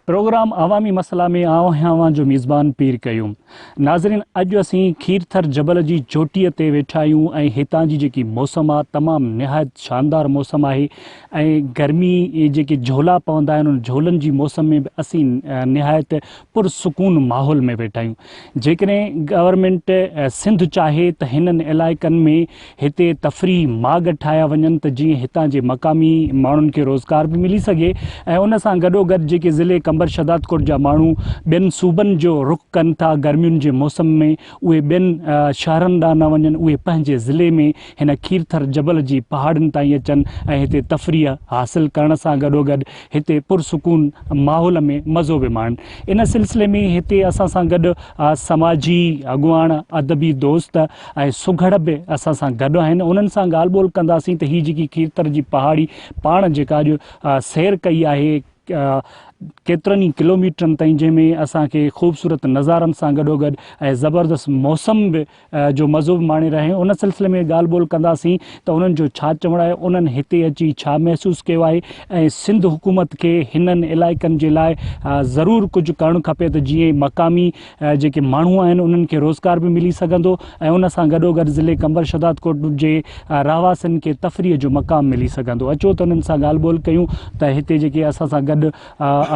Programme عوامي مسئلا ۾ آئون آهيان اوهان جو ميزبان پير قيوم ناظرين اڄ اسين کيرٿر جبل جي چوٽيء تي ويٺا آهيون ۽ هتان جي جيڪي موسم آهي تمام نهايت شاندار موسم آهي ۽ گرمي جيڪي جهولا پوندا آهن ان جهولن جي موسم ۾ به اسين نهايت پرسڪون ماحول ۾ ويٺا آهيون جيڪڏهن گورنمينٽ سنڌ چاهي ته هنن علائقن ۾ هتي تفريح ماڳ ٺاهيا وڃن ته جيئن هتان جي مقامي ماڻهن کي روزگار به ملي سگهي ۽ ان سان گڏوگڏ جيڪي ضلعي قمبر شهدادڪوٽ جا ماڻهو ٻين صوبن جو رخ ڪن ٿا گرمين جي موسم ۾ اهي ٻين شهرن ڏانهن نه وڃن اهي پنهنجي ضلعي ۾ هن کيرٿر جبل جي پهاڙين تائين اچن ۽ هتي تفريح حاصل ڪرڻ سان گڏوگڏ هتي پرسڪون ماحول ۾ مزو به ماڻ. ان سلسلي ۾ هتي اسان سان گڏ سماجي اڳواڻ، ادبي دوست ۽ سگهڙ به اسان سان گڏ آهن. انهن سان ڳالهه ٻولهه ڪنداسين ته هي جيڪي کيرٿر جي پهاڙي پاڻ جيڪا اڄ سير ڪئي آهي ڪيترن ئي ڪلوميٽرن تائين جنهن ۾ اسان کي خوبصورت نظارن سان گڏوگڏ ۽ زبردست موسم به جو مزو به ماڻي رهيا آهيون ان سلسلي ۾ ڳالهه ٻولهه ڪنداسين ته انهن جو ڇا چوڻ آهي انهن هتي اچي ڇا محسوس ڪيو آهي ۽ سنڌ حڪومت کي هنن علائقن جي لاء ضرور ڪجهه ڪرڻ کپي ته جيئن مقامي جيڪي ماڻهو آهن انهن کي روزگار به ملي سگهندو ۽ ان سان گڏوگڏ ضلعي قمبر شهدادڪوٽ جي رهواسين کي تفريح جو مقام ملي سگهندو اچو ته انهن سان ڳالهه ٻولهه ڪيون ته هتي جيڪي اسان سان گڏ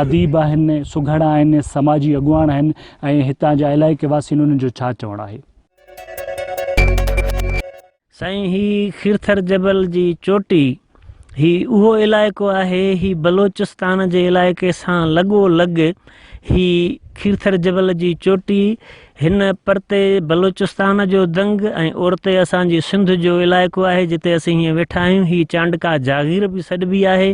اديب آهن سگهڙا آهن سماجي اڳواڻ آهن ۽ هتان جا علائقي واسين انهن جو ڇا چوڻ آهي. سائين هي خيرٿر جبل جي چوٽي هي اهو علائقو آهي هي بلوچستان جي علائقي سان لڳو لڳ هي خيرٿر جبل جي چوٽي هن پرتي بلوچستان جو دنگ ۽ اورتي اسان جي سنڌ جو علائقو آهي جتي اسين هيئن ويٺا آهيون هي چانڊڪا جاغير به سڏبي آهي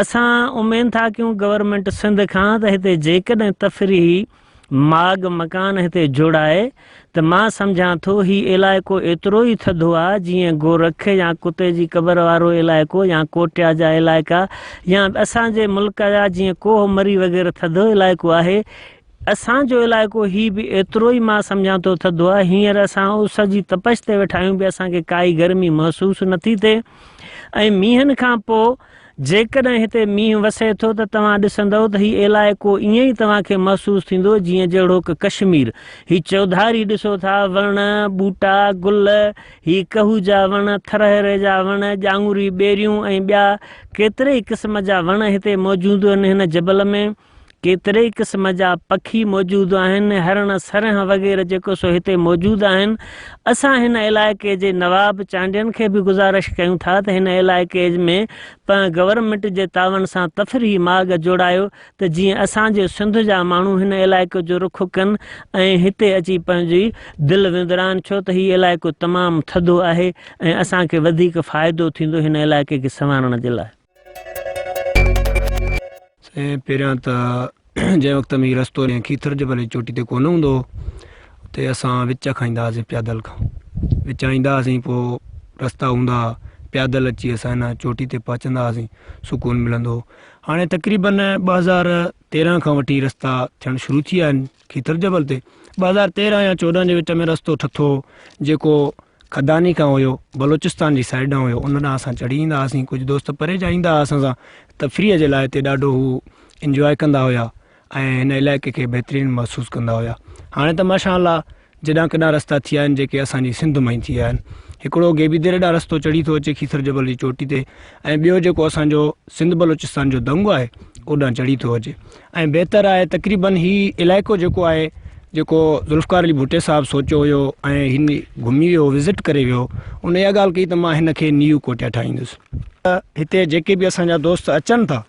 اسان اميد ٿا ڪيون گورنمينٽ سنڌ کان ته هتي جيڪڏهن تفريحي ماڳ مڪان هتي جوڙائي ته مان سمجهان ٿو هي علائقو ايترو ئي ٿڌو آ جيئن گورک يا ڪتي جي قبر وارو علائقو يا ڪوٽيا جا علائقا يا اسان جي ملڪ جا جيئن ڪوهه مري وغيره ٿڌو علائقو آهي اسان جو علائقو هي به ايترو ئي مان سمجهان ٿو ٿڌو آ هينئر اسان اس جي تپش تي ويٺا آهيون به اسان کي ڪائي گرمي محسوس نٿي ٿئي ۽ مينهن کان پو جيڪڏهن هتي مينهن وسي ٿو ته توهان ڏسندؤ ته هي علائقو ائين ئي توهان کي محسوس ٿيندو جيئن جهڙوڪ ڪشمير. هي چوڌاري ڏسو ٿا، وڻ، ٻوٽا، گل، هي ڪهو جا وڻ، ٿرهري جا وڻ، ڄانگهوري ٻيريون ۽ ٻيا ڪيتري ئي قسم جا وڻ هتي موجودهن هن جبل ۾. ڪيترئي قسم جا پکي موجود آهن، هرڻ، سرنهن وغيره جيڪو سو هتي موجود آهن. اسان هن علائقي جي نواب چانڊين کي به گذارش ڪيون ٿا ته هن علائقي ۾ پنهن گورنمينٽ جي تعاون سان تفريحي ماڳ جوڙايو ته جيئن اسان جي سنڌ جا ماڻهو هن علائقي جو رخ ڪن ۽ هتي اچي پنهنجي دل وندرائن ڇو ته هي علائقو تمام ٿڌو آهي ۽ اسان کي وڌيڪ فائدو ٿيندو هن علائقي کي سنوارڻ جي لاء. سائين پهريان ته جنهن وقت ۾ هي رستو ڏينهن کيٿر جبل جي چوٽي تي ڪونه هوندو هو ته اسان وچ کان ايندا هئاسين پيادل کان وچان ايندا هئاسين پوء رستا هوندا هئا پيادل اچي اسان هن چوٽي تي پهچندا هئاسين سڪون ملندو هو هاڻي تقريبن ٻه هزار تيرهن کان وٺي رستا ٿيڻ شروع ٿي ويا آهن کيٿر جبل تي ٻه هزار تيرهن يا چوڏهن جي وچ ۾ رستو ٺٿو جيڪو کداني کان هيو بلوچستان جي سائيڊ ڏانهن هيو ان ڏانهن اسان چڙهي ايندا هئاسين ڪجهه دوست پري جا ايندا هئا اسان سان تفريح جي لاء هتي ڏاڍو هو انجواء ڪندا هيا ۽ هن علائقي کي بهترين محسوس ڪندا هيا هاڻي ته ماشاء الله جيڏا ڪيڏا رستا ٿي ويا آهن جيڪي اسان جي سنڌ مان ئي ٿي ويا آهن هڪڙو گيبي ديري ڏانهن رستو چڙهي ٿو اچي کيسر جبل جي چوٽي تي ۽ ٻيو جيڪو اسان جو سنڌ بلوچستان جو دنگو آهي اوڏانهن چڙهي ٿو اچي ۽ بهتر آهي تقريبن هي علائقو جيڪو آهي جيڪو ذوالفقار علي ڀٽي صاحب سوچيو هيو ۽ هن گهمي ويو وزٽ ڪري ويو ان اها ڳالهه ڪئي ته مان هن کي نيو ڪوٽيا ٺاهيندس هتي جيڪي به اسان جا دوست اچن ٿا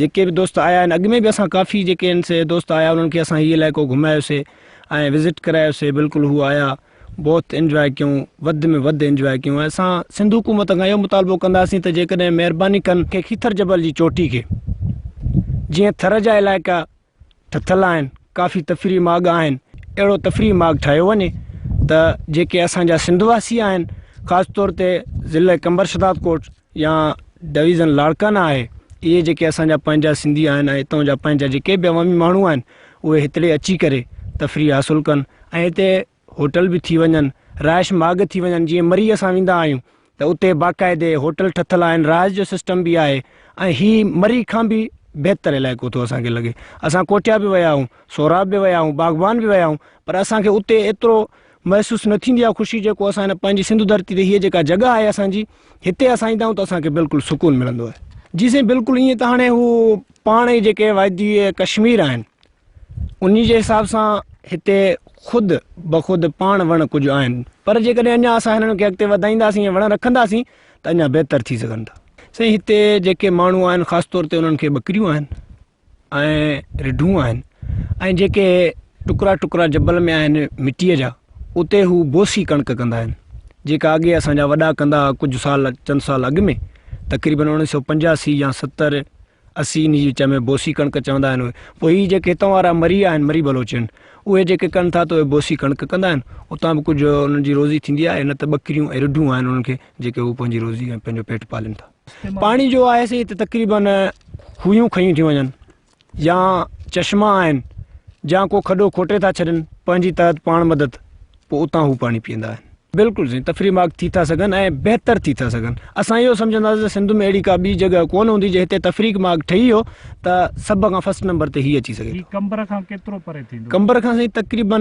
جيڪي به دوست آيا آهن اڳ ۾ به اسان ڪافي جيڪي آهن سي دوست آيا انهن کي اسان هي علائقو گهمايوسي ۽ وزٽ ڪرايوسي بلڪل هو آيا بوت انجواء ڪيون وڌ ۾ وڌ انجواء ڪيون اسان سنڌ حڪومت کان اهو مطالبو ڪنداسين ته جيڪڏهن مهرباني ڪن کي کيٿر جبل جي چوٽي کي جيئن ٿر جا علائقا ٺٿل آهن ڪافي تفريح ماڳ آهن اهڙو تفريح ماڳ ٺاهيو وڃي ته جيڪي اسان جا سنڌ واسي آهن خاص طور تي ضلع قمبر شداد ڪوٽ يا ڊويزن لاڙڪانا آهي اهي جيڪي اسان جا پنهنجا سنڌي آهن ۽ اتان جا پنهنجا جيڪي به عوامي ماڻهو آهن اهي هتڙي اچي ڪري تفريح حاصل ڪن ۽ هتي هوٽل به ٿي وڃن رهائش ماڳ ٿي وڃن جيئن مري اسان ويندا آهيون ته اتي باقاعدي هوٽل ٺٿل آهن رهائش جو سسٽم به آهي ۽ هي مري کان به بهتر علائقو ٿو اسان کي لڳي اسان ڪوٺيا به ويا آهيون سوراب به ويا آهيون باغبان به ويا آهيون پر اسان کي اتي ايترو محسوس نه ٿيندي اها خوشي جيڪو اسان هن پنهنجي سنڌو ڌرتي تي هيء جيڪا جڳهه آهي اسان جي هتي اسان ايندا آهيون ته اسان کي بلڪل سڪون ملندو آهي. جي سائين بلڪل ايئن ته هاڻي هو پاڻ ئي جيڪي وادي ڪشمير آهن انهي جي حساب سان هتي خود بخود پاڻ وڻ ڪجهه آهن پر جيڪڏهن اڃا اسان هنن کي اڳتي وڌائينداسين ۽ وڻ رکنداسين ته اڃا بهتر ٿي سگهن ٿا. سائين هتي جيڪي ماڻهو آهن خاص طور تي انهن کي ٻڪريون آهن. ۽ رڍون آهن ۽ جيڪي ٽڪرا ٽڪرا جبل ۾ آهن مٽيء جا اتي هو بوسي ڪڻڪ ڪندا آهن جيڪا اڳي اسان جا وڏا ڪندا هئا ڪجهه سال چند سال اڳ ۾ تقريبن اوڻيھ سئو پنجاسي يا ستر اسي ان جي وچ ۾ بوسي ڪڻڪ چوندا آهن اهي پوء هي جيڪي هتان وارا مري آهن مري بلوچ آهن اهي جيڪي ڪن ٿا ته اهي بوسي ڪڻڪ ڪندا آهن اتان به ڪجهه انهن جي روزي ٿيندي آهي نه ته ٻڪريون ۽ رڍون آهن انهن کي جيڪي هو پنهنجي روزي ۽ پنهنجو پيٽ پالين ٿا پاڻي جو آهي سي هتي تقريباً خوهيون کنيون ٿيون وڃن يا چشما آهن جا ڪو کڏو کوٽي ٿا ڇڏن پنهنجي تحت پاڻ مدد پوء اتان هو پاڻي پيئندا آهن بلڪل سائين تفريح مارڪ ٿي ٿا سگهن ۽ بهتر ٿي ٿا سگهن اسان اهو سمجهنداسين ته سنڌ ۾ اهڙي ڪا ٻي جڳهه ڪونه هوندي جي هتي تفريح مارڪ ٺهي هو ته سڀ کان فرسٽ نمبر تي هي اچي سگهي ٿو قمبر کان ڪيترو پري ٿيندو قمبر کان سائين تقريباً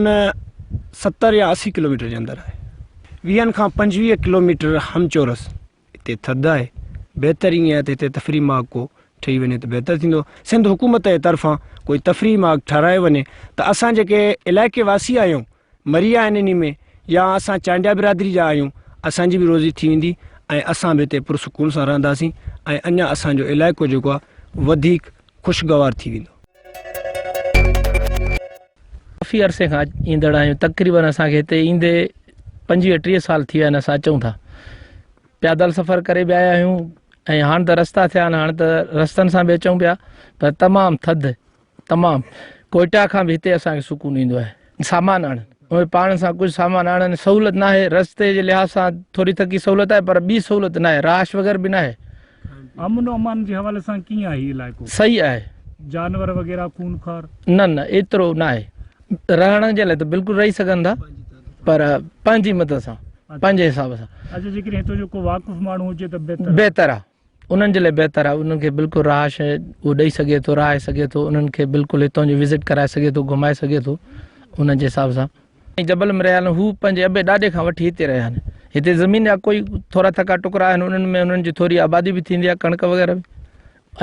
ستر يا اسي ڪلوميٽر جي اندر آهي ويهن کان پنجويهه ڪلوميٽر همچورس هتي ٿڌ آهي بهتر ائين آهي ته هتي تفريح ماڳ ڪو ٺهي وڃي ته بهتر ٿيندو سنڌ حڪومت جي طرفان ڪوئي تفريح ماڳ ٺهرايو وڃي ته اسان جيڪي علائقي واسي آهيون مري آهن انهي ۾ يا اسان چانڊيا برادري جا آهيون اسان جي به روزي ٿي ويندي ۽ اسان به هتي پرسڪون سان رهنداسين ۽ اڃا اسان جو علائقو جيڪو آهي وڌيڪ خوشگوار ٿي ويندو. ڪافي عرصي کان ايندڙ آهيون تقريبن اسان کي هتي ايندي پنجويهه ٽيهه سال ٿي ويا آهن اسان اچون ٿا پيادل سفر ڪري به آيا آهيون ۽ هاڻ ته رستا ٿيا آهن هاڻ ته رستن سان به اچون پيا پر تمام ٿڌ تمام ڪوئٽا کان به هتي اسانکي سڪون ايندو آهي سامان آڻن اهي پاڻ سان ڪجهه سامان آڻن سهولت ناهي رستي جي لحاظ سان ٿوري ٿڪي سهولت آهي پر ٻي سهولت ناهي راش وغيره به ناهي امن و امان جي حوالي سان ڪيئن آهي هي علائقو صحيح آهي جانور وغيره خونخوار نه نه ايترو ناهي رهڻ جي لاء ته بلڪل رهي سگهن ٿا پر پنهنجي مدد سان پنهنجي حساب سان اچھا جيڪڏهن هتو جو ڪو واقف ماڻهو هجي ته بهتر بهتر آهي انهن جي لاء بهتر آهي انهن کي بلڪل رهائش اهو ڏئي سگهي ٿو رهائي سگهي ٿو انهن کي بلڪل هتان جو وزٽ ڪرائي سگهي ٿو گهمائي سگهي ٿو انهن جي حساب سان ۽ جبل ۾ رهيا آهن هو پنهنجي ابي ڏاڏي کان وٺي هتي رهيا آهن هتي زمين جا ڪوئي ٿورا ٿڪا ٽڪرا آهن انهن ۾ انهن جي ٿوري آبادي به ٿيندي آهي ڪڻڪ وغيره به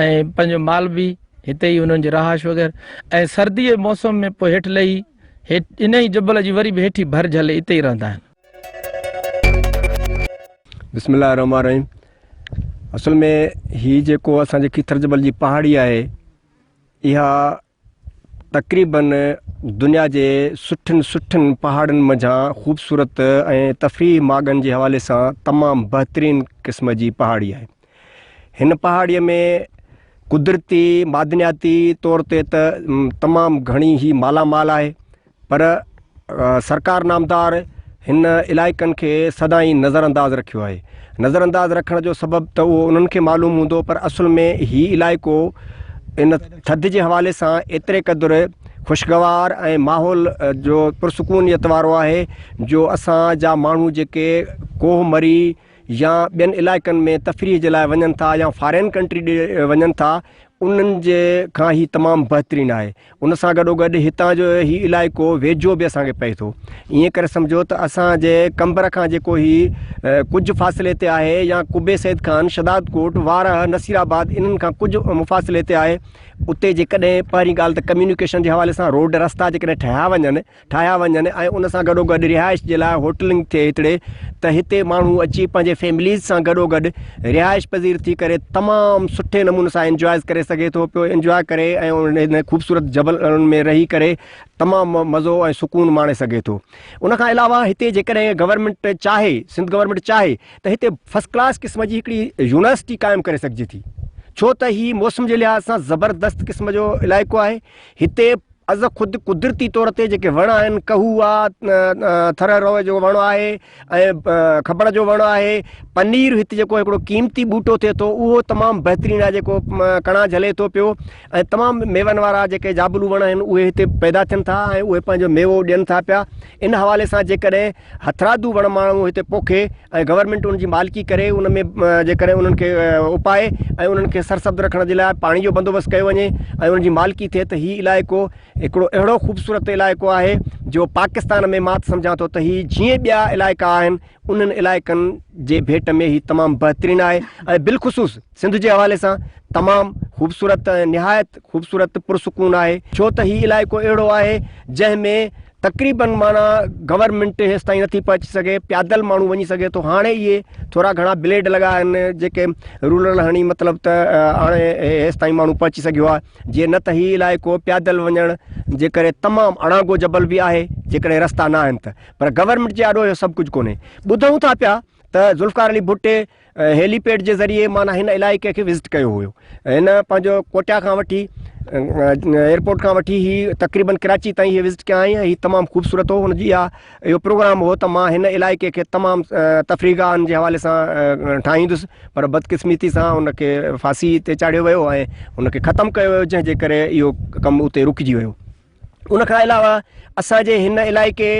۽ پنهنجو مال به هتي ئي انهن جي رهائش وغيره ۽ سردي جي موسم ۾ پوء هيٺ لهي هيٺ ان ئي جبل جي وري به هيٺي ڀر جهلي اتي ئي رهندا آهن بسم الله الرحمن الرحيم اصل ۾ هي جيڪو اسانجي کيتر جبل جي پهاڙي آهي اها تقريبن دنيا جي سٺن سٺن پهاڙن منجهان خوبصورت ۽ تفريح ماڳن جي حوالي سان تمام بهترين قسم جي پهاڙي آهي هن پهاڙيء ۾ قدرتي معدنياتي طور تي ته تمام گهڻي هي مالا مال آهي پر سرڪار نامدار هن علائقن کي سدائين نظر انداز رکيو آهي نظر انداز رکڻ جو سبب ته اهو انهن کي معلوم هوندو پر اصل ۾ هي علائقو ان ٿڌ جي حوالي سان ايتري قدر خوشگوار ۽ ماحول جو پرسڪونيت وارو آهي جو اسان جا ماڻهو جيڪي ڪوهه مري يا ٻين علائقن ۾ تفريح جي لاء وڃن ٿا يا فارين ڪنٽري ڏي وڃن ٿا انهن جي کان هي تمام بهترين آهي ان سان گڏو گڏ هتان جو هي علائقو ويجهو به اسان کي پئي ٿو ائين ڪري سمجهو ته اسان جي قمبر کان جيڪو هي ڪجهه فاصلي تي آهي يا قبي سيد خان شداد ڪوٽ وارهه نصير آباد انهن کان ڪجهه مفاصلي تي آهي اتي جيڪڏهن پهرين ڳالهه ته ڪميونيڪيشن جي حوالي سان روڊ رستا جيڪڏهن ٺهيا وڃن ٺاهيا وڃن ۽ ان سان گڏوگڏ رهائش جي لاء هوٽلنگ ٿئي هتڙي ته هتي ماڻهو اچي پنهنجي فيمليز سان گڏوگڏ رهائش پذير ٿي ڪري تمام سٺي نموني سان انجوائز ڪري سگهي ٿو پيو انجواء ڪري ۽ ان خوبصورت جبل ۾ رهي ڪري تمام مزو ۽ سڪون ماڻي سگهي ٿو ان کان علاوه هتي جيڪڏهن گورنمينٽ چاهي سنڌ گورنمينٽ چاهي ته هتي فرسٽ ڪلاس قسم جي هڪڙي يونيورسٽي قائم ڪري سگهجي ٿي ڇو ته هي موسم جي لحاظ سان زبردست قسم جو علائقو آهي هتي از خود قدرتي طور تي جيڪي وڻ آهن، ڪهو آ، ٿرهه روء جو وڻ آهي ۽ کٻڙ جو وڻ آهي، پنير هت جيڪو هڪڙو قيمتي ٻوٽو ٿئي ٿو اهو تمام بهترين آهي جيڪو ڪڻا جهلي ٿو پيو ۽ تمام ميون وارا جيڪي جابلو وڻ آهن اهي هتي پيدا ٿين ٿا ۽ اهي پنهنجو ميوو ڏين ٿا پيا ان حوالي سان جيڪڏهن هٿرادو وڻ ماڻهو هتي پوکي ۽ گورنمينٽ ان جي مالڪي ڪري ان ۾ جيڪڏهن انهن کي اپائي ۽ انهن کي سرسبز رکڻ جي لاء پاڻي جو بندوبست ڪيو وڃي ۽ ان جي مالڪي ٿئي ته هي علائقو هڪڙو اهڙو خوبصورت علائقو آهي جو پاڪستان ۾ مان سمجهان ٿو ته هي جيئن ٻيا علائقا آهن انهن علائقن جي ڀيٽ ۾ هي تمام بهترين آهي ۽ بالخصوص سنڌ جي حوالي سان تمام خوبصورت ۽ نهايت خوبصورت پرسڪون آهي ڇو ته هي علائقو اهڙو آهي جنهن ۾ تقريبن معنيٰ گورنمينٽ هيستائين نٿي پهچي سگهي پيادل ماڻهو وڃي سگهي ٿو هاڻي اهي ٿورا گهڻا بليڊ لڳا آهن جيڪي رولر هڻي مطلب ته هاڻي هيستائين ماڻهو پهچي سگهيو آهي جي نه ته هي علائقو پيادل وڃڻ جي ڪري تمام اڻانگو جبل به آهي جيڪڏهن رستا نه آهن ته پر گورنمينٽ جي آڏو اهو سڀ ڪجهه ڪونهي ٻڌون ٿا پيا ته ذوالفقار علي ڀٽ هيلي پيڊ جي ذريعي معنيٰ هن علائقي کي وزٽ ڪيو هيو هن پنهنجو ڪوٽا کان وٺي ايئرپورٽ کان وٺي هي تقريبن ڪراچي تائين هي وزٽ ڪيا آهي هي تمام خوبصورت هو هن جي اها اهو پروگرام هو ته مان هن علائقي کي تمام تفريح گاهن جي حوالي سان ٺاهيندس پر بدقسمتي سان ان کي ڦاسي تي چاڙهيو ويو ۽ ان کي ختم ڪيو ويو جنهن جي ڪري اهو ڪم اتي رڪجي ويو ان کان علاوه اسان جي هن علائقي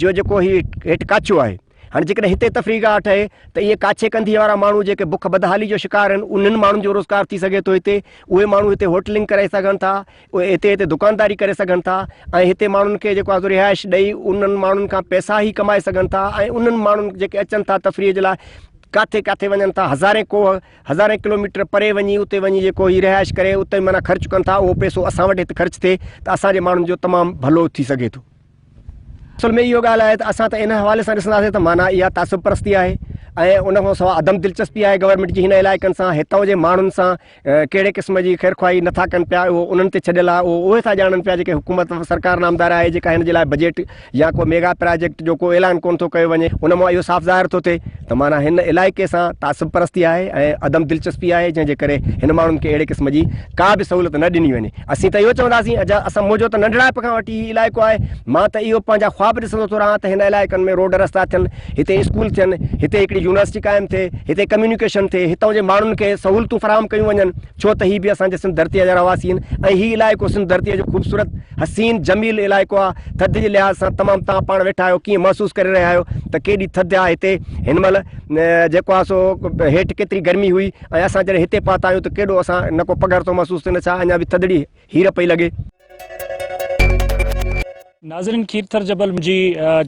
جو جيڪو هي هيٺ ڪاڇو آهي هاڻي جيڪڏهن هتي تفريح گاهه ٺهي ته اهي ڪاڇي ڪنڌيء وارا ماڻهو جيڪي بک بدحالي جو شڪار آهن انهن ماڻهن جو روزگار ٿي سگهي ٿو هتي اهي ماڻهو هتي هوٽلنگ ڪري سگهن ٿا اهي هتي هتي دڪانداري ڪري سگهن ٿا ۽ هتي ماڻهن کي جيڪو آزو رهائش ڏئي انهن ماڻهن کان پئسا هي ڪمائي سگهن ٿا ۽ انهن ماڻهن جيڪي اچن ٿا تفريح جي لاء ڪاٿي ڪاٿي وڃن ٿا هزارين ڪوهه هزارين ڪلوميٽر پري وڃي اتي وڃي جيڪو هي رهائش ڪري اتي معنيٰ خرچ ڪن ٿا اهو پئسو اسان وٽ هت خرچ ٿئي ته اسان جي ماڻهن جو تمام ڀلو ٿي سگهي ٿو. اصل ۾ اهو ڳالهه آهي ته اسان ته ان حوالي سان ڏسنداسين ته معنيٰ اها تعصب پرستي آهي ۽ ان کان سواء عدم دلچسپي آهي گورنمينٽ جي هن علائقن سان هتان جي ماڻهن سان ڪهڙي قسم جي خيرخواهي نٿا ڪن پيا اهو انهن تي ڇڏيل آهي اهو اهي ٿا ڄاڻن پيا جيڪي حڪومت سرڪار نامدار آهي جيڪا هن جي لاء بجيٽ يا ڪو ميگا پراجيڪٽ جو ڪو اعلان ڪونه ٿو ڪيو وڃي، ان مان اهو صاف ظاهر ٿو ٿئي ته معنيٰ هن علائقي سان تعصب پرستي آهي ۽ عدم دلچسپي آهي جنهن جي ڪري هن ماڻهن کي اهڙي قسم جي ڪا به سهولت نه ڏني وڃي. اسين ته اهو چونداسين اجها اسان منهنجو ته ننڍڙائپ کان وٺي هي علائقو آهي، مان ته اهو پنهنجا خواب ڏسندو ٿو رهان ته هن علائقن ۾ روڊ رستا ٿين، هتي اسڪول ٿين، هتي هڪڙي يونيورسٽي قائم ٿئي، هتي ڪميونيڪيشن ٿئي، هتان جي ماڻهن کي سهولتون فراهم ڪيون وڃن. ڇو ته هي به اسان جي سنڌ ڌرتيء جا رهواسي آهن ۽ هي علائقو سنڌ ڌرتيء جو خوبصورت، حسين، جميل علائقو آهي. ٿڌ جي لحاظ سان تمام توهان پاڻ ويٺا آهيو، ڪيئن محسوس ڪري رهيا آهيو ته ڪيڏي ٿڌ آهي هتي هن مهل جيڪو آهي سو هيٺ ڪيتري گرمي هئي ۽ اسان جڏهن هتي پهتا آهيون ته ڪيڏو اسان نه ڪو پگهر ٿو محسوس ٿئي نه ڇا اڃا به ٿڌڙي هير پئي لڳي. ناظرين کيرٿر جبل جي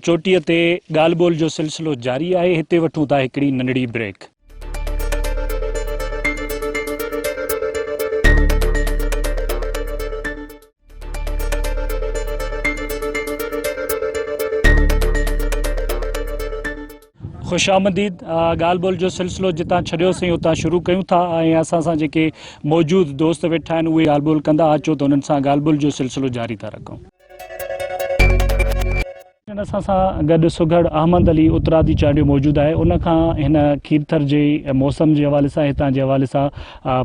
چوٽيء تي ڳالهه ٻولهه جو سلسلو جاري آهي هتي وٺون ٿا هڪڙي ننڍڙي بريڪ. خوش آمدید ڳالھ ٻولھ جو سلسلو جتان چھڈيو سين اتان شروع ڪيون ٿا ۽ اسان سان جيڪي موجود دوست ويٺا آهن اهي ڳالھ ٻولھ ڪندا اچو ته انهن سان ڳالھ ٻولھ جو سلسلو جاري ٿا رکون هينئر اسان سان گڏ سگهڙ احمد علي اترادي چانڊيو موجود آهي ان کان هن کيرٿر جي موسم جي حوالي سان هتان جي حوالي سان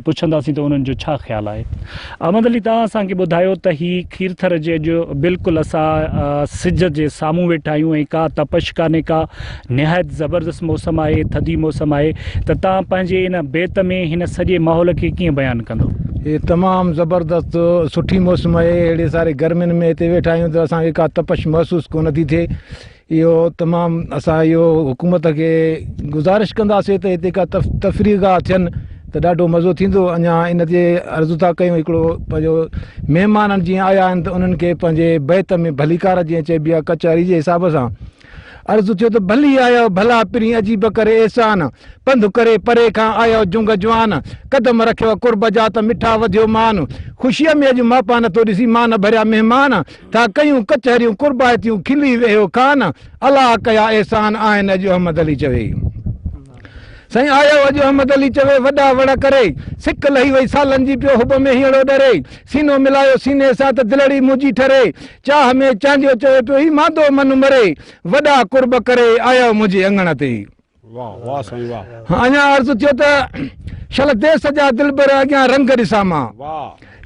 پڇنداسين ته انهن جو ڇا خيال آهي احمد علي توهان اسان کي ٻڌايو ته هي کيرٿر جي اڄ بلڪل اسان سج جي سامهون ويٺا آهيون ۽ ڪا تپش ڪانهي ڪا نهايت زبردست موسم آهي ٿڌي موسم آهي ته تان پنهنجي ان بيت ۾ هن سڄي ماحول کي ڪيئن بيان ڪندو. هي تمام زبردست سٺي موسم آهي اهڙي ساري گرمين ۾ هتي ويٺا آهيون ته اسان کي ڪا تپش محسوس ڪونه ٿي ٿئي اهو تمام اسان اهو حڪومت کي گذارش ڪنداسي ته هتي ڪا تفريح گاهه ٿين ته ڏاڍو مزو ٿيندو اڃا ان تي عرض ٿا ڪيون هڪڙو پنهنجو مهمان جيئن آيا آهن ته انهن کي پنهنجي بيت ۾ ڀليڪار جيئن چئبي آهي ڪچهري جي حساب سان عرض ٿيو ته ڀلي آيو ڀلا پرين عجيب ڪري احسان پنڌ ڪري پري کان آيو جنگ جوان قدم رکيو قرب جا ته مٺا وڌيو مان خوشيء ۾ اڄ ماپا نٿو ڏسين مان ڀريا مهمان ٿا ڪيون ڪچهريون قربائتيون کلي ويهيو کان الله ڪيا احسان آهن اڄ احمد علي چوي سائين آيو اڄ احمد علي چوي وڏا وڙ ڪري سڪ لهي وئي سالن جي پيو حب ۾ هينئڙو ڏري سينو ملايو سيني سان ته دلڙي منهنجي ٺري چاه ۾ چانڊيو چوي پيو هي مادو من مري وڏا قرب ڪري آيو منهنجي اڱڻ تي. واه واه سائين واه. اڃا عرض ٿيو ته شل ديس جا دلبر اڳيان رنگ ڏسان مان.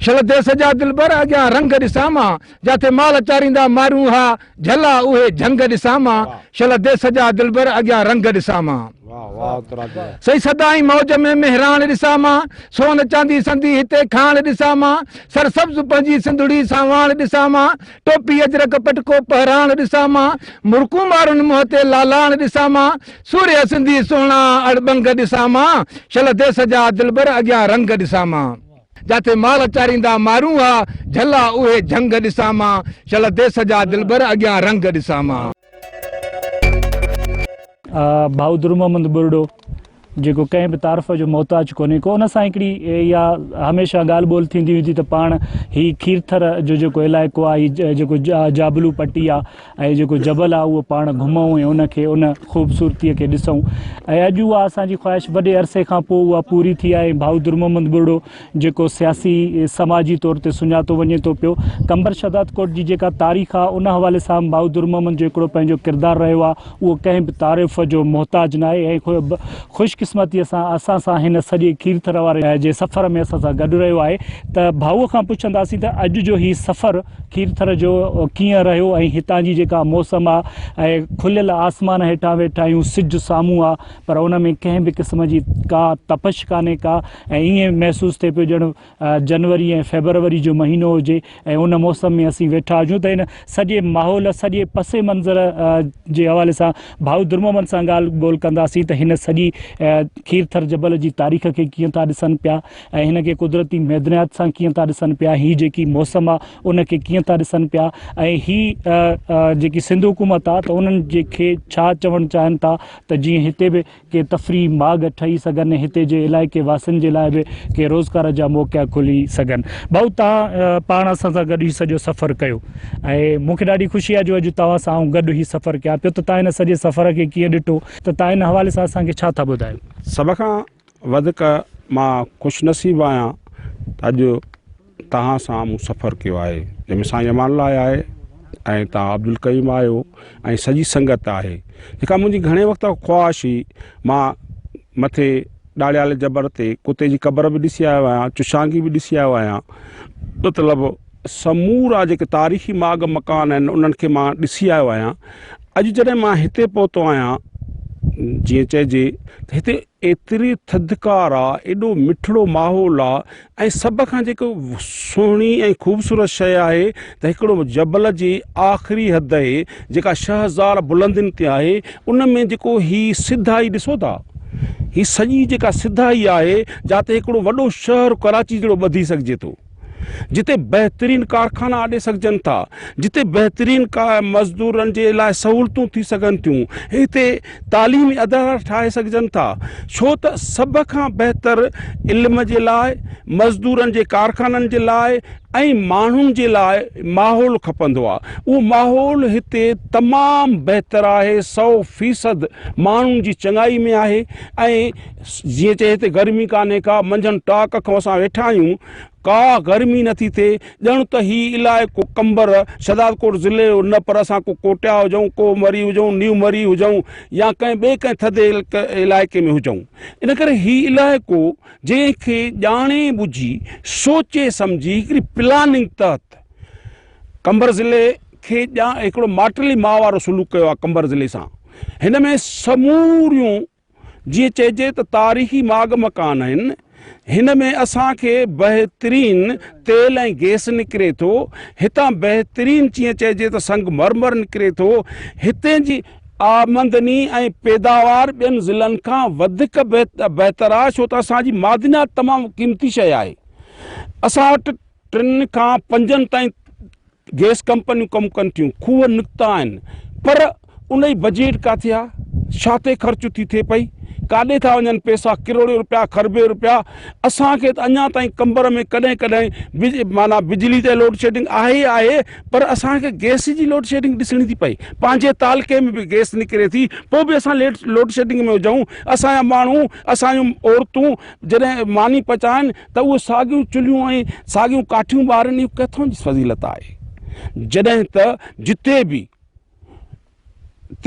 شل ديس جا دلبر اڳيان رنگ ڏسان مان جاٿي مال چاريندا مارون ها جهلا اهي جهنگ ڏسان مان شل ديس جا دلبر اڳيان رنگ ڏسان مان. سئي سدائين موج ۾ مهراڻ ڏسان مان، سون چاندي سندي هتي کاڻ ڏسان مان، سر سبز پنهنجي سنڌڙي سانواڻ ڏسان مان، ٽوپي اجرڪ پٽڪو پهراڻ ڏسان مان، مرڪون مارن منهن تي لالاڻ ڏسان مان، سورهيه سندي سهڻا اڙٻنگ ڏسان مان، شلڌي سجا دلبر اڳيان رنگ ڏسان مان، جاٿي مال چاريندا مارون ها جهلا اهي جهنگ ڏسان مان، شلڌي سجا دلبر اڳيان رنگ ڏسان مان. بهادر محمد ٻرڙو جيڪو ڪنهن به تعارف جو محتاج ڪونهي ڪو ان سان هڪڙي يا هميشه ڳالهه ٻولهه ٿيندي هئي ته پاڻ هي کيرٿر جو جيڪو علائقو آهي هي جيڪو جابلو پٽي آهي ۽ جيڪو جبل آهي اهو پاڻ گهمون ۽ ان کي ان خوبصورتي کي ڏسون ۽ اڄ اها اسان جي خواهش وڏي عرصي کان پوء اها پوري ٿي آهي بهادر محمد ٻرڙو جيڪو سياسي سماجي طور تي سڃاتو وڃي ٿو پيو قمبر شھدادڪوٽ جي جيڪا تاريخ آ ان حوالي سان بھادر محمد جو ھڪڙو پنھنجو ڪردار رھيو آ اھو ڪنھن به تعارف جو محتاج ناھي ۽ خوش قسمتي سان اسان سان ھن سڄي کيرٿر واري جي سفر ۾ اسان سان گڏ رھيو آھي ته ڀائو کان پڇنداسين ته اڄ جو ھي سفر کيرٿر جو ڪيئن رھيو ۽ ھتان جي جيڪا موسم آ ۽ کليل آسمان ھيٺان ويٺا آھيون سج سامھون آ پر ان ۾ ڪنھن به قسم جي ڪا تپش ڪانھي ڪا ۽ ائين محسوس ٿئي پيو ڄڻ جنوري ۽ فيبروري جو مهينو هجي ۽ ان موسم ۾ اسين ويٺا هجون ته ان سڄي ماحول سڄي پس منظر جي حوالي سان ڀائو درمومل سان ڳالهه ٻولهه ڪنداسين ته هن سڄي کيرٿر جبل جي تاريخ کي ڪيئن ٿا ڏسن پيا ۽ هن کي قدرتي معدنيات سان ڪيئن ٿا ڏسن پيا هي جيڪي موسم آ ان کي ڪيئن ٿا ڏسن پيا ۽ هي جيڪي سنڌ حڪومت آ ته انهن جي کي ڇا چوڻ چاهن ٿا ته جيئن هتي به ڪي تفريح ماڳ ٺهي سگهن ۽ هتي جي علائقي واسين جي لاء به ڪي روزگار جا موقعا کلي سگهن. ڀائو توهان پاڻ اسان سان گڏ هي سڄو سفر ڪيو ۽ مون کي ڏاڍي خوشي آهي جو اڄ توهان سان آئون گڏ هي سفر ڪيان پيو ته توهان هن سڄي سفر کي ڪيئن ڏٺو ته توهان ان حوالي سان اسان کي ڇا ٿا ٻڌايو. سڀ کان وڌيڪ مان خوش نصيب آهيان ته اڄ توهان سان مون سفر ڪيو آهي جنهن ۾ سائين امان الله آيا آهي ۽ توهان عبدالڪريم آهيو ۽ سڄي سنگت آهي جيڪا منهنجي گهڻي وقت کان خواهش هئي مان مٿي ڏاڙهيال جبر تي ڪتي جي قبر به ڏسي آيو آهيان چشانگي به ڏسي آيو آهيان مطلب سمورا جيڪي تاريخي ماڳ مڪان آهن انهن کي مان ڏسي آيو آهيان اڄ جڏهن مان هتي پهتو آهيان جيئن چئجي ته هتي ايتري ٿڌڪار آ، ايڏو مٺڙو ماحول آ ۽ سڀ کان جيڪو سهڻي ۽ خوبصورت شيء آهي ته هڪڙو جبل جي آخري هدئي جيڪا ڇهه هزار بلندين تي آهي ان ۾ جيڪو هي سڌائي ڏسو ٿا هي سڄي جيڪا سڌائي آهي جاتي هڪڙو وڏو شهر ڪراچي جهڙو ٻڌي سگهجي ٿو. جتي بهترين ڪارخانا آڏي سگهجن ٿا، جتي بهترين مزدورن جي لاء سهولتون ٿي سگهن ٿيون، هتي تعليمي ادارا ٺاهي سگهجن ٿا، ڇو ته سڀ کان بهتر علم جي لاء، مزدورن جي ڪارخانن جي لاء ۽ ماڻهن جي لاء ماحول کپندو آهي. اهو ماحول هتي تمام بهتر آهي، سؤ فيصد ماڻهن جي چڱائي ۾ آهي ۽ جيئن چئي هتي گرمي ڪانهي ڪا، منجهن ٽاڪ کان اسان ويٺا آهيون، ڪا گرمي نه ٿي ٿئي، ڄڻ ته هي علائقو قمبر، شهدادڪوٽ ضلعي جو نه پر اسان ڪو ڪوٽيا هجون، ڪو مري هجون، نيو مري هجون يا ڪنهن ٻئي ڪنهن ٿڌي علائقي ۾ هجون. ان ڪري هي علائقو جنهن کي ڄاڻي ٻجهي، سوچي سمجهي هڪڙي پلاننگ تحت قمبر ضلعي کي هڪڙو ماٽيلي ماء وارو سلوڪ ڪيو آهي قمبر ضلعي سان هن ۾ سموريون جيئن چئجي ته تاريخي ماڳ مڪان آهن، هن ۾ اسان کي بهترين تيل ۽ گئس نڪري ٿو، هتان بهترين جيئن چئجي ته سنگ مرمر نڪري ٿو، هتي جي آمدني ۽ پيداوار ٻين ضلعن کان وڌيڪ بهتر آهي ڇو ته اسان جي معدنيات تمام قيمتي شيء آهي، اسان وٽ ٽن کان پنجن تائين گئس ڪمپنيون ڪم ڪن ٿيون خوهه نڪتا آهن پر ان جي بجيٽ ڪاٿي آ ڇا تي خرچ ٿي ٿئي پئي ڪاڏي ٿا وڃن پيسا ڪروڙيون روپيا خربين روپيا اسان کي ته اڃا تائين قمبر ۾ ڪڏهن ڪڏهن بج معنيٰ بجلي تي لوڊ شيڊنگ آهي ئي آهي پر اسان کي گئس جي لوڊ شيڊنگ ڏسڻي ٿي پئي پنهنجي تعلقي ۾ به گئس نڪري ٿي پوء به اسان ليڊ لوڊ شيڊنگ ۾ هجون اسان جا ماڻهو اسان جون عورتون جڏهن ماني پچائن ته اهي ساڳيون چلهيون ۽ ساڳيون ڪاٺيون ٻارن اهو ڪٿان جي فضيلت آهي جڏهن ته جتي به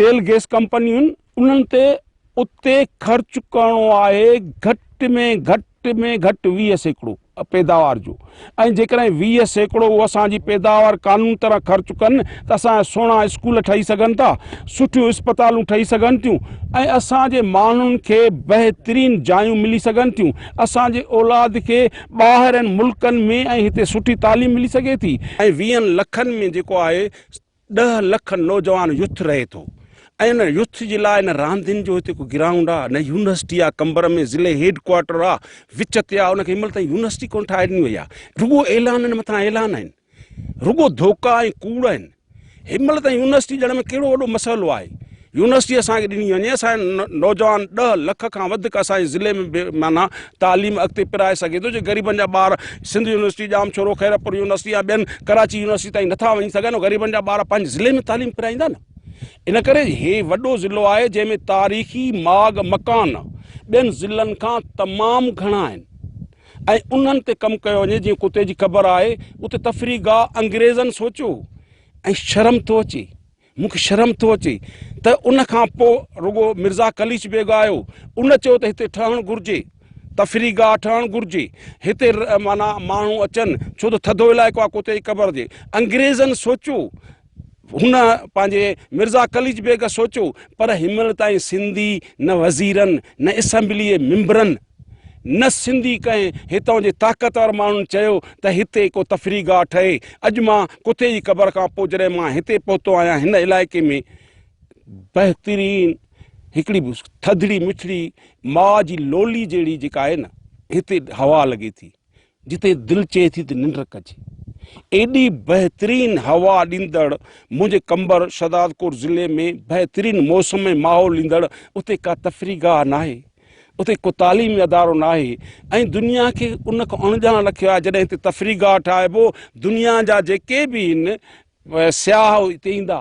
تيل گيس ڪمپنيون انهن تي اتي خرچ ڪرڻو آهي گهٽ ۾ گهٽ ۾ گهٽ ويهه سيڪڙو پيداوار جو ۽ جيڪڏهن ويهه سيڪڙو اهو اسان جي پيداوار قانون طرح خرچ ڪن ته اسان جا سهڻا اسڪول ٺهي سگهن ٿا سٺيون اسپتالون ٺهي سگهن ٿيون ۽ اسان جي ماڻهن کي بهترين جايون ملي سگهن ٿيون اسان جي اولاد کي ٻاهرين ملڪن ۾ ۽ هتي سٺي تعليم ملي سگهي ٿي ۽ ويهن لکن ۾ جيڪو آهي ڏهه لک نوجوان يوٿ رهي ٿو ۽ ان يوٿ جي لاء نه راندين جو هتي ڪو گرائونڊ آهي نه يونيورسٽي آهي قمبر ۾ ضلعي هيڊ ڪوارٽر آهي وچ تي آهي ان کي هن مهل تائين يونيورسٽي ڪونه ٺاهي ڏني وئي آهي رڳو اعلانن مٿان اعلان آهن رڳو ڌوڪا ۽ ڪوڙ آهن. هن مهل تائين يونيورسٽي ڏيڻ ۾ ڪهڙو وڏو مسئلو آهي. يونيورسٽي اسان کي ڏني وڃي، اسان جو نوجوان ڏهه لک کان وڌيڪ اسان جي ضلعي ۾ به معنيٰ تعليم اڳتي پرائي سگهي ٿو، جي غريبن جا ٻار سنڌ يونيورسٽي، ڄامشورو، خيرپور يونيورسٽي يا ٻين ڪراچي يونيورسٽي تائين نٿا وڃي سگهن، غريبن جا ٻار پنهنجي ضلعي ۾ تعليم پرائيندا نه. ان ڪري هي وڏو ضلعو آهي، جنهن ۾ تاريخي ماڳ مڪان ٻين ضلعن کان تمام گهڻا آهن. ۽ انهن تي ڪم ڪيو وڃي جيئن ڪتي جي قبر آهي اتي تفريح گاهه انگريزن سوچيو ۽ شرم ٿو اچي مون کي شرم ٿو اچي ته ان کان پوء رڳو مرزا قليچ بيگ آيو ان چيو ته هتي ٺهڻ گهرجي تفريح گاهه ٺهڻ گهرجي هتي معنيٰ ماڻهو اچن ڇو ته ٿڌو علائقو آهي ڪتي جي قبر جي انگريزن سوچيو هن پنهنجي مرزا قليچ بيگ سوچيو، پر هنمهل تائين سنڌي نه وزيرن، نه اسيمبليء ممبرن، نه سنڌي ڪنهن هتان جي طاقتور ماڻهن چيو ته هتي ڪو تفريح گاهه ٺهي. اڄ مان ڪتي جي قبر کان پوء جڏهن مان هتي پهتو آهيان، هن علائقي ۾ بهترين هڪڙي ٿڌڙي مٺڙي ماء جي لولي جهڙي جيڪا آهي نه، هتي هوا لڳي ٿي. جتي دل چئي ٿي ته ننڊ ڪجي. ايڏي بهترين هوا ڏيندڙ منهنجي قمبر شهدادڪوٽ ضلعي ۾ بهترين موسم ۽ ماحول ڏيندڙ اتي ڪا تفريح گاهه ناهي، اتي ڪو تعليمي ادارو ناهي ۽ دنيا کي ان کان اڻڄاڻ رکيو آهي جڏهن هتي تفريح گاهه ٺاهبو دنيا جا جيڪي به هن سياح هتي ايندا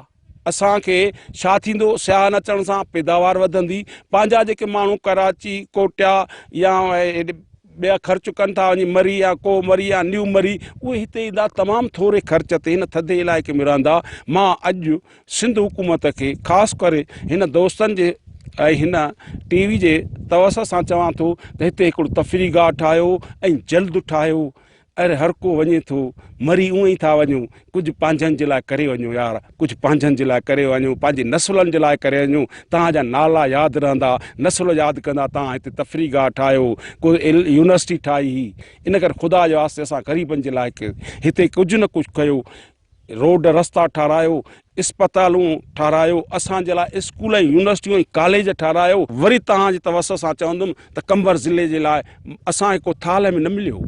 اسان کي ڇا ٿيندو سياح نه اچڻ سان پيداوار وڌندي پنهنجا جيڪي ماڻهو ڪراچي ڪوٽيا يا ٻيا خرچ ڪن ٿا وڃي مري يا ڪو مري يا نيو مري اهي هتي ايندا تمام ٿوري خرچ تي هن ٿڌي علائقي ۾ رهندا مان اڄ سنڌ حڪومت کي خاص ڪري هن دوستن جي ۽ هن ٽي وي جي توسط سان چوان ٿو ته هتي هڪڙو تفريح گاهه ٺاهيو ۽ جلد ٺاهيو اري هر ڪو وڃي ٿو مري اونئن ئي ٿا وڃون ڪجهه پنهنجن جي لاء ڪري وڃو يار ڪجهه پنهنجن جي لاء ڪري وڃو پنهنجي نسلن جي لاء ڪري وڃو توهان جا نالا ياد رهندا نسل ياد ڪندا توهان هتي تفريح گاهه ٺاهيو ڪو يونيورسٽي ٺاهي هي ان ڪري خدا جي واسطي اسان غريبن جي لاء هتي ڪجهه نه ڪجهه ڪيو روڊ رستا ٺارايو، اسپتالون ٺارايو، اسان جي لاء اسڪول ۽ يونيورسٽيون ۽ ڪاليج ٺارايو، وري توهان جي توسط سان چوندم ته قمبر ضلعي جي لاء اسان کي ڪو ٿالهه ۾ نه مليو،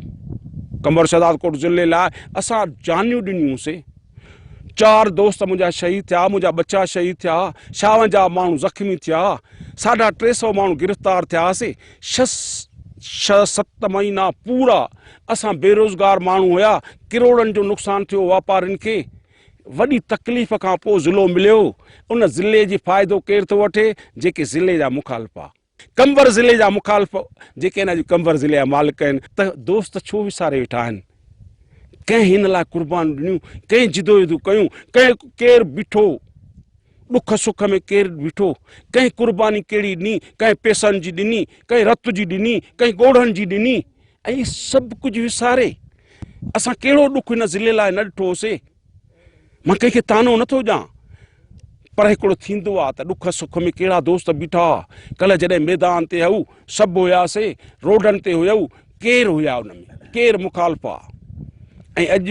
قمبر شهدادڪوٽ ضلعي لاء اسان جانيون ڏنيون سي، چار دوست منهنجا شهيد ٿيا، منهنجا ٻچا شهيد ٿيا، ڇاونجاهه ماڻهو زخمي ٿيا، ساڍا ٽي سئو ماڻهو گرفتار ٿياسي، ڇهه ست مهينا پورا اسان بيروزگار ماڻهو هيا ڪروڙن جو نقصان ٿيو واپارين کي وڏي تڪليف کان پوء ضلعو مليو ان ضلعي جي فائدو ڪير ٿو وٺي جيڪي ضلعي جا مخالف آ قمبر ضلعي جا مخالف جيڪي هن جي قمبر ضلعي جا مالڪ آهن ته دوست ڇو وساري ويٺا آهن ڪنهن هن لاء قربان ڏنيون ڪنهن جدوجدو ڪيون ڪنهن ڪير بيٺو ڏک سک ۾ ڪير بيٺو ڪنهن قرباني ڪهڙي ڏني ڪنهن پيسن جي ڏني ڪنهن رت جي ڏني ڪنهن ڳوڙهن جي ڏني ائين سڀ ڪجهه وساري اسان ڪهڙو ڏک هن ضلعي لاء نه ڏٺو هوسي. مان ڪنهن کي طعنو نه ٿو ڏيان پر هڪڙو ٿيندو آ ته ڏک سک ۾ ڪهڙا دوست بيٺا هئا. ڪلهه جڏهن ميدان تي هئو سڀ هياسي، روڊن تي هيو ڪير هيا ان ۾ ڪير مخالف آ ۽ اڄ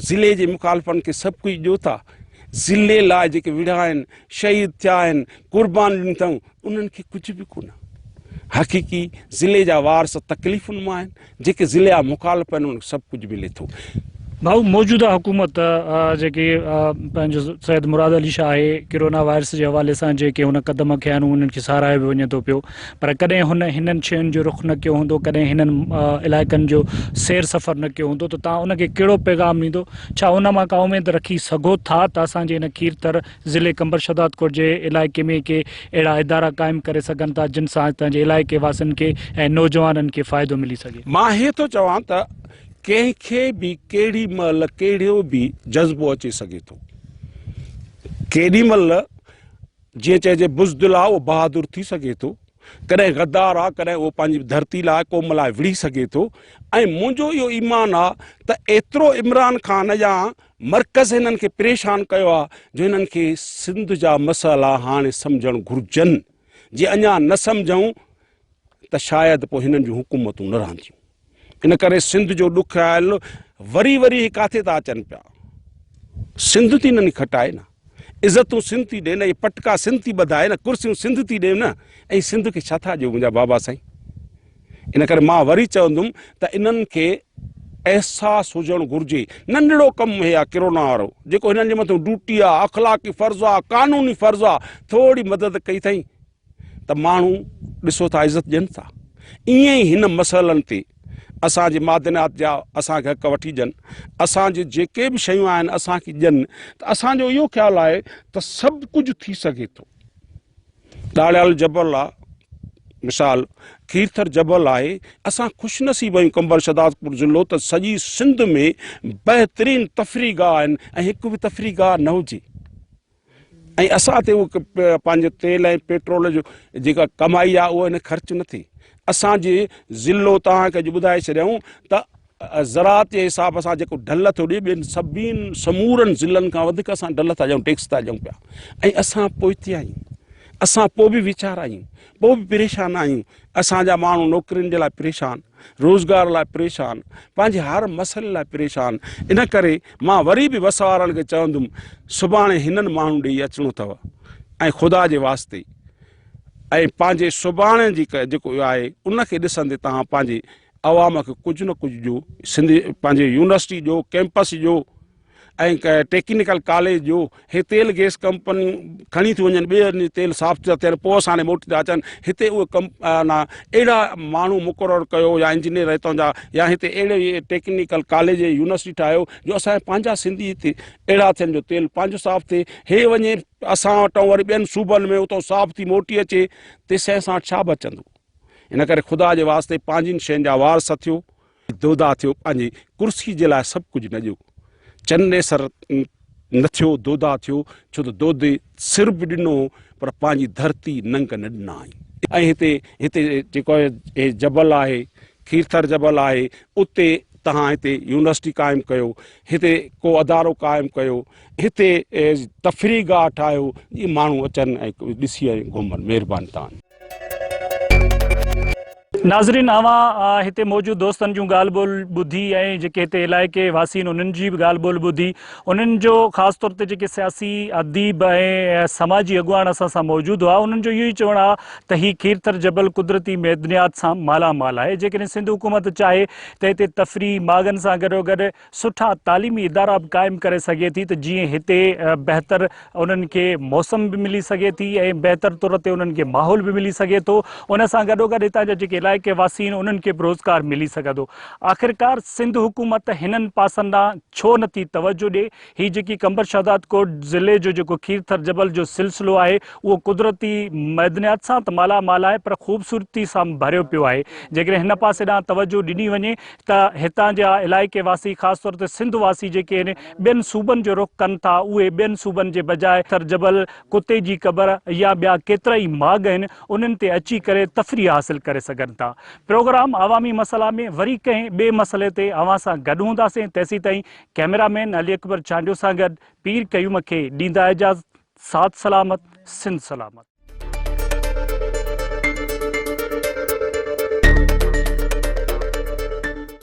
ضلعي جي مخالفن کي سڀ ڪجهه ڏيو ٿا. ضلعي لاء جيڪي وڙهيا آهن، شهيد ٿيا آهن، قربان ڏني اٿئون انهن کي ڪجهه به ڪونه حقيقي ضلعي جا وارث تڪليفن مان آهن جيڪي ضلعي جا مخالف آهن انهن کي سڀ ڪجهه ملي ٿو. ڀائو موجوده حڪومت جيڪي پنهنجو سيد مراد علي شاهه آهي ڪرونا وائرس جي حوالي سان جيڪي هن قدم کنيا آهن انهن کي ساراهيو به وڃي ٿو پيو پر ڪڏهن هن هنن شين جو رخ نه ڪيو هوندو ڪڏهن هنن علائقن جو سير سفر نه ڪيو هوندو ته توهان ان کي ڪهڙو پيغام ڏيندو ڇا ان مان ڪا اميد رکي سگهو ٿا ته اسان جي ان کير ٿر ضلعي قمبر شھدادڪوٽ جي علائقي ۾ ڪي اھڙا ادارا قائم ڪري سگھن ٿا جن سان ھتان جي علائقي واسين کي ۽ نوجوانن کي فائدو ملي سگھي. مان اھي ٿو چوان ته ڪنھن کي به ڪھڙي مھل ڪھڙو به جذبو اچي سگھي ٿو ڪيڏي مھل جيئن چئجي بزدل آ اھو بھادر ٿي سگھي ٿو ڪڏھن غدار آ ڪڏھن اھو پنھنجي ڌرتي لاء قوم لاء وڙھي سگھي ٿو ۽ منھنجو اھو ايمان آ ته ايترو عمران خان يا مرڪز هنن کي پريشان ڪيو آهي جو هنن کي سنڌ جا مسئلا هاڻي سمجهڻ گهرجن، جي اڃا نه سمجهون ته شايد پوء هنن جون حڪومتون نه رهنديون. ان ڪري سنڌ جو ڏکيائل وري وري هي ڪاٿي ٿا اچن پيا. سنڌ ٿي ننهن کٽائي نه. عزتون سنڌ ٿي ڏين ۽ پٽڪا سنڌ ٿي ٻڌائي نه ڪرسيون سنڌ ٿي ڏين نه ۽ سنڌ کي ڇا ٿا ڏيو منهنجا بابا سائين ان ڪري مان وري چوندم ته انهن کي احساس هجڻ گهرجي ننڍڙو ڪم هي آ ڪرونا وارو جيڪو هنن جي مٿو ڊوٽي آ اخلاقي فرض آ قانوني فرض آ ٿوري مدد ڪئي ٿئي ته ماڻهو ڏسو ٿا عزت ڏين ٿا ائين ئي هن مسئلن تي اسان جي معدنيات جا اسان کي حق وٺي ڏين اسان جي جيڪي به شيون آهن اسان کي ڏين ته اسان جو اهو خيال آهي ته سڀ ڪجهه ٿي سگهي ٿو ڏاڙيال جبل آ مثال کيرٿر جبل آهي اسان خوش نصيب آهيون قمبر شهدادپور ضلعو ته سڄي سنڌ ۾ بهترين تفريح گاهه آهن ۽ هڪ به تفريح گاهه نه هجي ۽ اسان تي اهو پنهنجو تيل ۽ پيٽرول جو جيڪا ڪمائي آهي اهو هن خرچ نه ٿي اسان جي ضلعو توهان کي اڄ ٻڌائي ڇڏيائون ته زراعت جي حساب سان جيڪو ڍل ٿو ڏي ٻين سڀين سمورن ضلعن کان وڌيڪ اسان ڍل ٿا ڏيون ٽيڪس ٿا ڏيون پيا ۽ اسان پوئتي آهيون اسان پوء به ويچارا آهيون پوء به پريشان آهيون اسان جا ماڻهو نوڪرين جي لاء پريشان، روزگار لاء پريشان، پنهنجي هر مسئلي لاء پريشان، ان ڪري مان وري به وس وارن کي چوندم سڀاڻي هنن ماڻهن ڏي اچڻو اٿو ۽ خدا جي واسطي ۽ پنهنجي سڀاڻي جي جيڪو آهي ان کي ڏسندي توهان پنهنجي عوام کي ڪجهه نه ڪجهه جو سنڌي پنهنجي يونيورسٽي جو ڪيمپس جو ۽ ٽيڪنيڪل ڪاليج جو هي تيل گيس ڪمپنيون کڻي ٿيون وڃن ٻيو هنڌ تيل صاف ٿيو ٿين پوء اسان ڏي موٽي ٿا اچن هتي اهي ڪم نا اهڙا ماڻهو مقرر ڪيو يا انجنيئر هتان جا يا هتي اهڙو ئي ٽيڪنيڪل ڪاليج يونيورسٽي ٺاهيو جو اسان پنهنجا سنڌي هتي اهڙا ٿين جو تيل پنهنجو صاف ٿئي هي وڃي اسان وٽان وري ٻين صوبن ۾ اتو صاف ٿي موٽي اچي تيسين اسان وٽ ڇا بچندو ان ڪري خدا جي واسطي پنهنجين شين جا وار سٿيو دودا ٿيو پنهنجي ڪرسي جي لاء سڀ ڪجهه نڄو چن نيسر نه ٿيو دودا ٿيو ڇو ته دودي سر به ڏنو پر پنهنجي ڌرتي ننگ نه ڏنائين. ۽ هتي هتي جيڪو هي جبل آهي کيرٿر جبل آهي اتي تهان هتي يونيورسٽي قائم ڪيو هتي ڪو ادارو قائم ڪيو هتي تفريح گاهه ٺاهيو جي ماڻهو اچن ۽ ڏسي ۽ گهمن مهرباني تهانجي. ناظرين اوهان هتي موجود دوستن جون ڳالهه ٻولهه ٻڌي ۽ جيڪي هتي علائقي واسي آهن انهن جي به ڳالهه ٻولهه ٻڌي انهن جو خاص طور تي جيڪي سياسي اديب ۽ سماجي اڳواڻ اسان سان موجود هئا انهن جو اهو ئي چوڻ آهي ته هي کيرٿر جبل قدرتي معدنيات سان مالا مال آهي جيڪڏهن سنڌ حڪومت چاهي ته هتي تفريح ماڳن سان گڏوگڏ سٺا تعليمي ادارا به قائم ڪري سگهي ٿي ته جيئن هتي بهتر انهن کي موسم به ملي سگهي ٿي ۽ بهتر طور تي انهن کي ماحول به ملي سگهي ٿو ان سان گڏوگڏ هتان جا جيڪي علائقي واسي آهن انهن کي به روزگار ملي سگهندو آخرڪار سنڌ حڪومت هنن پاسن ڏانهن ڇو نه ٿي توجهه ڏي هي جيڪي قمبر شهدادڪوٽ ضلعي جو جيڪو کيرٿر جبل جو سلسلو آهي اهو قدرتي معدنيات سان ته مالا مال آهي پر خوبصورتي سان به ڀريو پيو آهي جيڪڏهن هن پاسي ڏانهن توجهه ڏني وڃي ته هتان جا علائقي واسي خاص طور تي سنڌ واسي جيڪي ٻين صوبن جو رخ ڪن ٿا اهي ٻين صوبن جي بجاء ٿر جبل، ڪتي جي قبر يا ٻيا ڪيترائي ماڳ آهن انهن تي اچي ڪري تفريح حاصل ڪري سگهن ٿا. پروگرام عوامي مسئلا ۾ وري ڪنهن ٻئي مسئلي تي اوهان سان گڏ هونداسين تيسيتائين ڪئميرا مين علي اڪبر چانڊيو سان گڏ پير قيوم کي ڏيندا اجازت. ساٿ سلامت سنڌ سلامت.